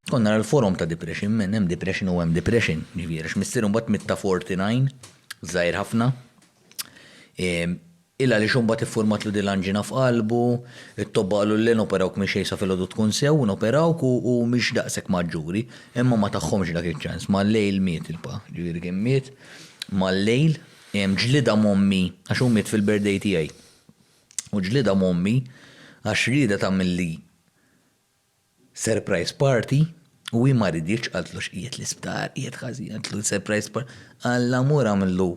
Konna l-forum ta' depression, men hemm depression u hemm depression, ġifieri x'missier mbagħad mitta 49, żgħir ħafna. Ehm, illa li xumbat iffurmat lu dil-anġina f'qalbu, it-tobba qalu l noperawk minn xejsa fil-ħodu tkun sew, noperawk u mhix daqshekk maġġuri, imma ma tagħhomx dak iċ-ċans, mal-lejl miet il-pa, ġifieri kien miet mal-lejl, ehm, ġlida mommi, għax hu miet fil-birthday tiegħi. U ġlida mommi għax rieda tagħmilli Surprise party, u hi ma riditx, qaltlu x'qiegħed l-isptar, qiegħed ħażin, qaltlu surprise party, Alla mur agħmillu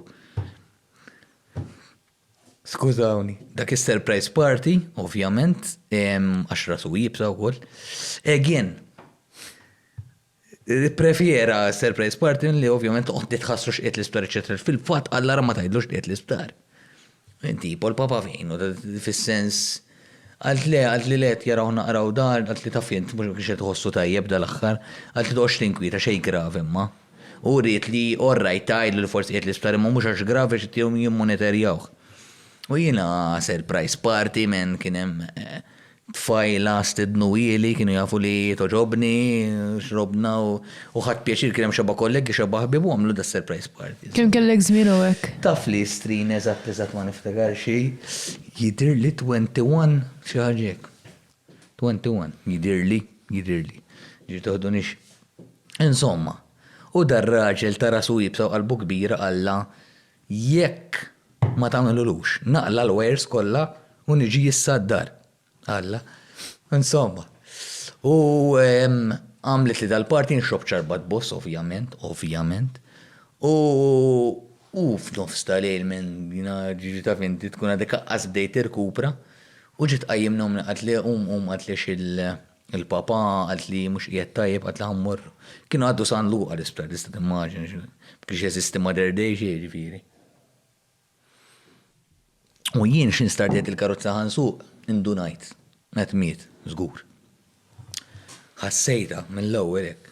Skużawni. Dak is-surprise party, ovvjament, għax rasu iebsa wkoll, again. Ipprefjera surprise party li ovvjament toqgħod tħassru x'qiegħed l-isptar eċċetera għax fil-fatt Alla ra ma tgħidlu x'qiegħed l-isptar. Tipo l-Papa f'ħinu, fis-sens Qalt le, qalt li le qed jaraw naqraw dan, qalt li taf int mhux ma kienx qed iħossu tajjeb dal-aħħar, qalt li toqgħodx tinkwieta xejn gravi imma. U wriet li all right tgħidlu li forsi qiegħed l-isptar imma mhux għax gravi għax qed jimmoneterjawh. U jiena surprise party man kien hemm Tfajla stednu ili, kienu jafu li togħġobni, xrobna u ħadt pjaċir kien hemm xebgħa kollegi, xebgħa ħbieb u għamlu das-surprise party. Kemm kellek żmien hawnhekk? Taf li Istrien eżatt eżatt ma niftakar xi, jidhirli twenty one, xi ħaġa hekk. Twenty one, jidhirli, jidhirli. Ġifieri toħdunix. Insomma, u dar-raġel ta' rasu iebsa u qalbu kbira qallha, Jekk ma tagħmilulux, naqla' l-wires kollha u niġi issa d-dar. Alla. Insomma. U għamlitli dal-party nxrobb ċarba tboss, ovvjament, ovvjament. U u f'nofs ta' lejl minn jiena ġiġi taf inti tkun għadek aqqas bdejt tirkupra u ġiet tqajjimni ommi qatli qum qum qatli għax il. Il-Papa qalt li mhux qiegħed tajjeb qalt li ħa mmur. Kienu għaddu San Luqa l-isptar tista' timmaġina xi. Ma kienx jeżisti Modern Day xejn jiġifieri. U jien xi nstardjajt il-karozza ħa nsuq, indunajt. Qed miet, żgur. Ħassejtha mill-ewwel hekk.